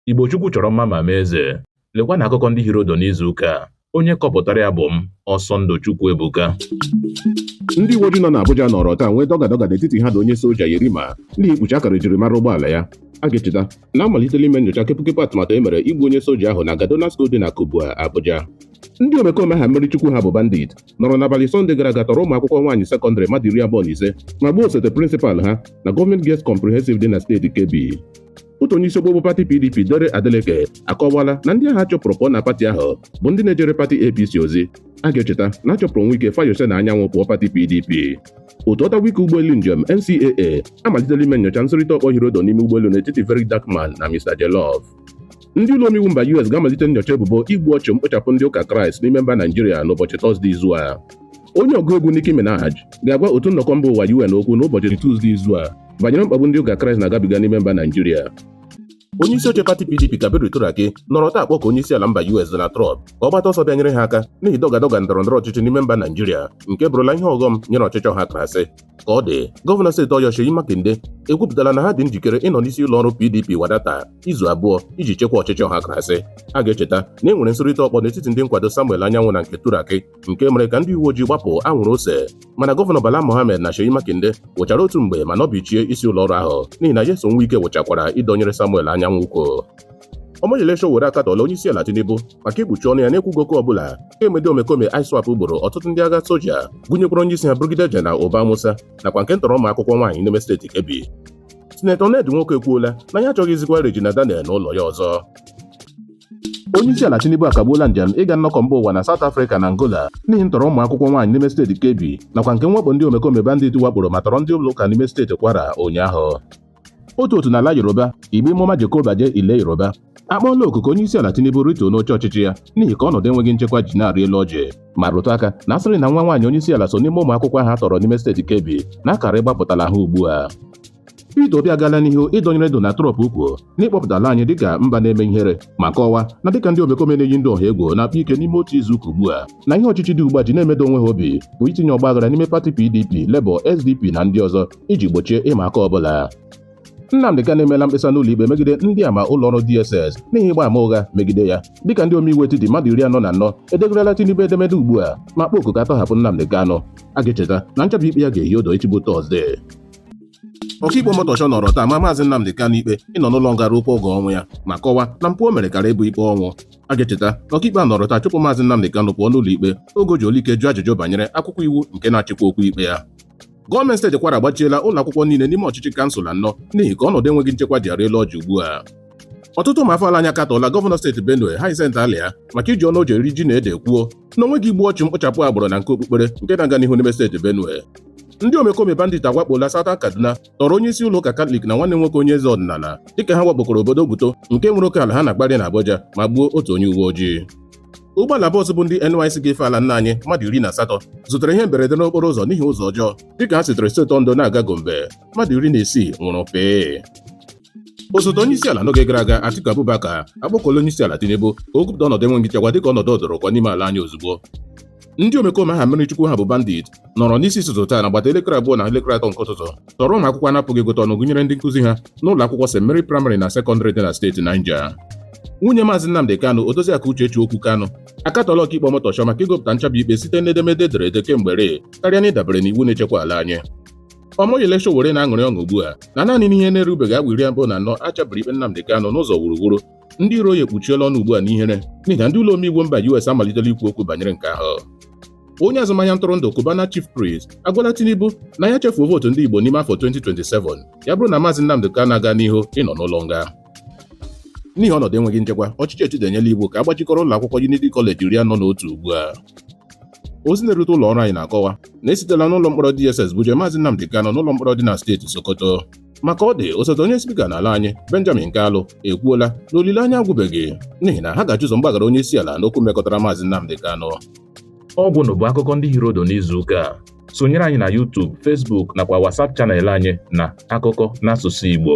Igbo Chukwu chọrọ mma ma mee eze. Lekwa na akụkọ ndị hiri odo n'izu ụka a. Onye kọpụtara ya bụ m, Ọsọndụ Chukwu Ebuka. Ndị uweojii nọ n'Abuja nọrọ taa nwee dọgadọga n'etiti ha na onye soja Yerima n'ihi ikpuchi akara ejirimara ụgbọala ya. A ga-echeta na amalitela ime nyocha kepụkepụ atụmatụ e mere igbu onye soja ahụ na Gado Nasko dị na Kubwa, Abuja. Ndị omekome aha mmiri Chukwu ha bụ bandit nọrọ n'abalị Sọnde gara aga tọrọ ụmụ akwụkwọ nwaanyị sekọndịrị mmadụ iri abụọ na ise ma gbuo osote prịnsịpal ha na gọọmenti Girls Comprehensive dị na steeti Kebbi. otu onye isi okpokpo pati pdp dare adeleke akọwala na ndị ahụ a chụpụrụ pụọ na pati ahụ bụ ndị na-ejere pati apc ozi a ga-echeta na a chụpụrụ nwike fayose na anyanwụ pụọ pati pdp otu ọta wike ụgbọelu njem ncaa amalitela ime nyocha nsụrịta ọkpọ hiri odo n'ime ụgbọelu n'etiti very dark man na mr jollof ndị ụlọ omeiwu mba us ga-amalite nyocha ebubo igbu ọchụ mkpochapụ ndị ụka kraịst n'ime mba naijiria n'ụbọchị tọzde izu a onye ọgụ egwu Nicki Minaj ga-agwa otu nnọkọ mba ụwa UN okwu n'ụbọchị Tuzdee izu a banyere mkpagbu ndị ụka Kraịst na-agabiga n'ime mba Naijiria onye isi oche pati PDP Kabiru Turaki nọrọ taa kpọkuo onye isi ala mba US Donald Trump ka ọ gbata ọsọ bịa nyere ha aka n'ihi dọgadọga ndọrọ ndọrọ ọchịchị n'ime mba Naijiria nke bụrụla ihe ọghọm nyere ọchịchị ọha krasị ka ọ dị gọvanọ steeti Ọyọ Seyi Makinde ekwupụtala na ha dị njikere ịnọ n'isi ụlọ ọrụ PDP wadata izu abụọ iji chekwa ọchịchị ọha krasị a ga-echeta na e nwere nsụrịta ọkpọ n'etiti ndị nkwado Samuel Anyanwụ na nke Turaki nke mere ka ndị uwe ojii gbapụ anwụrụ ose mana gọvanọ Bala Mohammed na Seyi Makinde wụchara otu mgbe ma nọbichie isi ụlọ ọrụ ahụ n'ihi na Nyesom Wike wụchakwara ịdọnyere Samuel anyanwụ ukwu Omoyele Sowore akatọọla onye isi ala Tinubu maka ikpuchi ọnụ ya na-ekwughị okwu ọbụla kemgbe omekome ISWAP gburu ọtụtụ ndị agha soja gụnyekwara onye isi ha Brigadier General Uba Musa nakwa nke ntọrọ ụmụ akwụkwọ nwaanyị n'ime steeti Kebbi Sinetọ Ned Nwoko ekwuola na ya achọghịzikwa Regina Daniel n'ụlọ ya ọzọ Onyeisiala Tinubu akagbuola njem ịga nnọkọ mba ụwa na South Africa na Angola n'ihi ntọrọ ụmụ akwụkwọ nwaanyị n'ime steeti Kebbi nakwa nke mwakpo ndị omekome bandit wakporo ma tọrọ ndị ụlọ ụka n'ime steeti Kwara ụnyaahụ. Otu otu n'ala Yoruba, Igbinmo Majekobaje Ile Yoruba, akpọọla oku ka Onyeisiala Tinubu rituo n'oche ọchịchị ya n'ihi ka ọnọdụ enweghị nchekwa ji na-arị elu ọjị ma rụtụ aka na asịrị na nwa nwaanyị Onyeisiala so n'ime ụmụ akwụkwọ ahụ a tọrọ n'ime steeti Kebbi na akara ịgbapụtala ha ugbu a. Peter Obi agaala n'ihu ịdọnyere Donald Trump ukwu n'ịkpọpụta ala anyị dịka mba na-eme ihere ma kọwaa na dịka ndị omekome na-eyi ndị ọha egwu na-akpa ike n'ime otu izu ụka ugbu a na ihe ọchịchị dị ugbu a ji na-emedo onwe ha obi bụ itinye ọgba aghara n'ime pati PDP, Labour, SDP na ndị ọzọ iji gbochie ịma aka ọbụla Nnamdị Kanu emeela mkpesa n'ụlọ ikpe megide ndị ama ụlọ ọrụ DSS n'ihi ịgba ama ụgha megide ya dịka ndị omeiwu etiti mmadụ iri anọ na anọ edegarala Tinubu edemede ugbu a ma kpọọ oku ka a tọhapụ Nnamdị Kanu a ga-echeta na nchabi ikpe ya ga-ehi odo echi bụ Tọzdee ọkaikpe Omotosho nọrọ taa ma maazị Nnamdi Kanu ikpe ịnọ n'ụlọ nga ruo kwa oge ọnwụ ya ma kọwaa na mpụ o mere kara ịbụ ikpe ọnwụ a ga-echeta na ọkaikpe a nọrọ taa chụpụ maazị Nnamdi Kanu pụọ n'ụlọ ikpe oge o ji olu ike jụọ ajụjụ banyere akwụkwọ iwu nke na-achịkwa okwu ikpe ya gọọmenti steeti Kwara agbachiela ụlọ akwụkwọ niile n'ime ọchịchị kansụl anọ n'ihi ka ọnọdụ enweghị nchekwa ji arị elu ọjị ugbu a ọtụtụ ụmụ afọ ala anyị akatọọla gọvanọ steeti Benue Hyacinth Alia maka iji ọnụ o ji eri ji na ede kwuo na o nweghị igbu ọchụ mkpochapụ agbụrụ na nke okpukpere nke na-aga n'ihu n'ime steeti Benue ndị omekome bandit awakpoola Southern Kaduna tọrọ onye isi ụlọ ụka Katọlik na nwanne nwoke onye eze ọdịnala dịka ha wakpokọrọ obodo Guto nke nwere oke ala ha na Bwari na Abuja ma gbuo otu onye uwe ojii ụgbọala bọọsụ bu ndị NYSC ga-efe ala nna anyị mmadụ iri na asatọ zutere ihe mberede n'okporo ụzọ n'ihi ụzọ ọjọọ dịka ha sitere steeti Ondo na-aga Gombe mmadụ iri na isii nwụrụ pịị osote onye isi ala n'oge gara aga Atiku Abubakar akpọkuola onye isi ala Tinubu ka o gụpụta ọnọdụ enweghị nchekwa dịka ọnọdụ ọdụrụkọ n'ime ala anyị ozugbo ndị omekome aha mmiri chukwu ha bụ bandit nọrọ n'isi ụtụtụ taa n'agbata elekere abụọ na elekere atọ nke ụtụtụ tọrọ ụmụ akwụkwọ a na-apụghị ịgụta ọnụ gụnyere ndị nkụzi ha n'ụlọ akwụkwọ St Mary Primary na sekọndịrị dị na steeti Niger nwunye maazị Nnamdi Kanu Odoziakụ Uchechi Okwu Kanu akatọọla ọkaikpe Omotosho maka ịgụpụta nchabi ikpe site n'edemede e dere ede kemgbe ree karịa na ịdabere n'iwu na-echekwa ala anyị Omoyele Sowore na-aṅụrị ọṅụ ugbu a na naanị n'ihe na-erubeghị awa iri abụọ na anọ a chabiri ikpe Nnamdi Kanu n'ụzọ wuruwuru ndị iro ya ekpuchiela ọnụ ugbu a n'ihere n'ihi na ndị ụlọ omeiwu mba US amalitela ikwu okwu banyere nke ahụ onye azụmahịa ntụrụndụ Cubana Chief Priest agwala Tinubu na ya chefuo vootu ndị Igbo n'ime afọ 2027 ya bụrụ na maazị Nnamdi Kanu agaa n'ihu ịnọ n'ụlọ nga n'ihi ọnọdụ enweghị nchekwa ọchịchị etiti enyela iwu ka a gbachikọrọ ụlọ akwụkwọ Unity College iri anọ na otu ugbu a ozi na-erute ụlọ ọrụ anyị na-akọwa na e sitela n'ụlọ mkpọrọ DSS buje Maazị Nnamdi Kanu n'ụlọ mkpọrọ dị na steeti Sokoto ma ka ọ dị osote onye spika n'ala anyị Benjamin Kalu ekwuola na olileanya agwụbeghị n'ihi na ha ga-achọ ụzọ mgbaghara onye isi ala n'okwu mekọtara Maazị Nnamdi Kanu ọ gwụla bụ akụkọ ndị hiri odo n'izu ụka a sonyere anyị na YouTube, Facebook nakwa WhatsApp channel anyị na akụkọ n'asụsụ Igbo